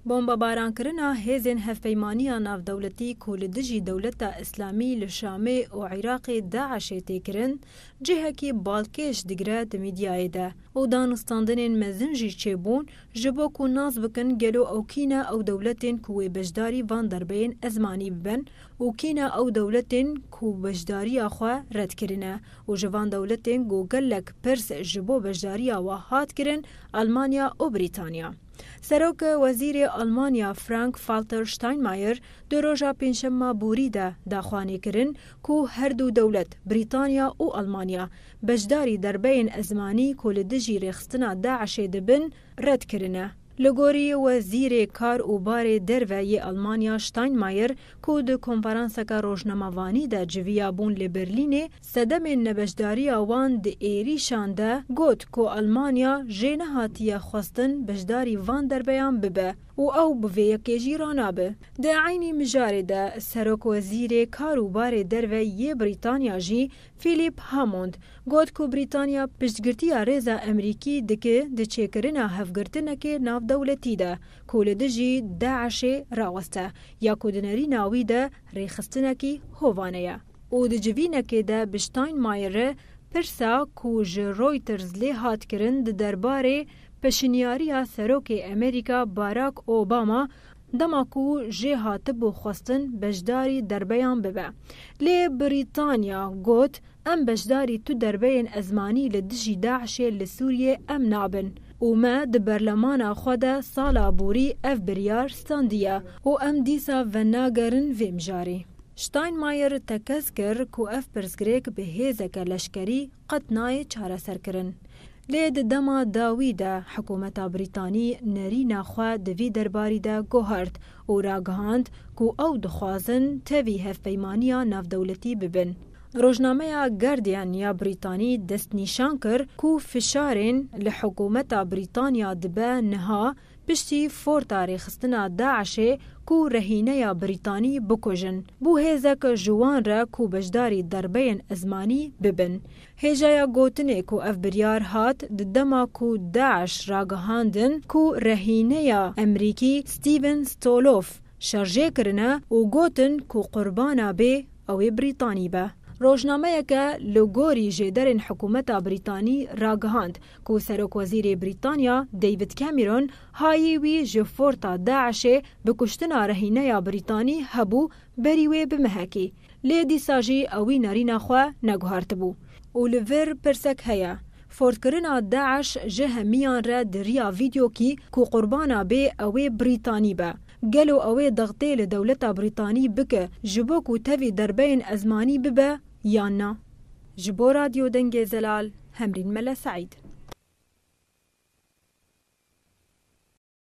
Bombabarankirina hêzên Hevpeymaniya Navdewletî ku li dijî Dewleta Îslamî li Şamê û Îraqê DAIŞ'ê tê kirin, cihekî balkêş digire di mîdyayê de û danûstandinên mezin jî çêbûn ji bo ku nas bikin gelo ew kî ne ew dewletên ku wê beşdarî van derbeyên ezmanî bibin û kî ne ew dewletên ku beşdariya xwe red kirine û ji van dewletên ku gelek pirs ji bo beşdariya we hat kirin Elmanya û Brîtanya. Serok wezîrê Almanya Frank Falter Steinmeier di roja pêncşemma borî de da xwanê kirin ku her du dewlet, Brîtanya û Almanya, beşdarî derbeyên ezmanî ku li dijî rêxistina DAIŞ'ê dibin, red kirine. Li gorî wezîrê kar û barê derve yê Almanya Steinmeier ku di konferanseke rojnamevanî de civiyabûn li Berlînê, Sedemên nebeşdariya wan di êrîşan de got ku Elmanya jê nehatiye xwestin beşdarî van derbeyan bibe û ew bi vê yekê jî ranabe. Di eynî mijarê de Serokwezîrê Kar û Barê Derve yê Brîtanya jî Philip Hammond got ku Brîtanya piştgirtiya rêza Emrîkî dike di çêkirina hevgirtinekê navdewletî de ku li dijî DAIŞ'ê raweste ya ku di nerîna wî de rêxistinekî hovane ye. Û di civînekê de bi Steinmeier re pirsa ku ji Reuters lê hat kirin di derbarê peşinyariya Serokê Amerîka Barack Obama dema ku jê hatibû xwestin beşdarî derbeyan bibe lê Brîtanya got em beşdarî tu derbeyên ezmanî li dijî DAIŞ'ê li Sûriyê em nabin û me di berlemana xwe de sala borî ev biryar standiye û em dîsa venagerin vê mijarê. Steinmeier tekez kir ku ev pirsgirêk bi hêzeke leşkerî qet nayê çareserkirin. Lê di dema dawî de hikûmeta Brîtanî nerîna xwe di vî derbarî de guhart û ragihand ku ew dixwazin tevî hevpeymaniya navdewletî bibin. Rojnameya Guardian ya Brîtanî destnîşan kir ku fişarên li hikûmeta Brîtanya dibe niha, Piştî forta rêxistina DAIŞ'ê ku rehîneya Brîtanî bikujin, bû hêzek ji wan re ku beşdarî derbeyên ezmanî bibin. Hêjaya gotinê ku ev biryar hat di dema ku DAIŞ ragihandin ku rehîneya Emrîkî Stephen Stoloff şerjê kirine û gotin ku qurbana bê ew ê Brîtanî be. Rojnameyeke li gorî jêderên hikûmeta Brîtanî ragihand ku Serokwezîrê Brîtanya David Cameron hayî wî ji forta DAIŞ'ê bi kuştina rehîneya Brîtanî hebû berî wê bimehekî, lê dîsa jî ew wî nerîna xwe neguhartibû. Û li vir pirsek heye, fortkirina DAIŞ ji hemiyan re di riya vîdyokî ku qurbana bê ew ê Brîtanî be. Gelo ew ê dextê li dewleta Brîtanî bike ji bo ku tevî derbeyên ezmanî bibe yan na? Ji bo Radyo Dengê Zelal, Hemrîn Mele Seîd.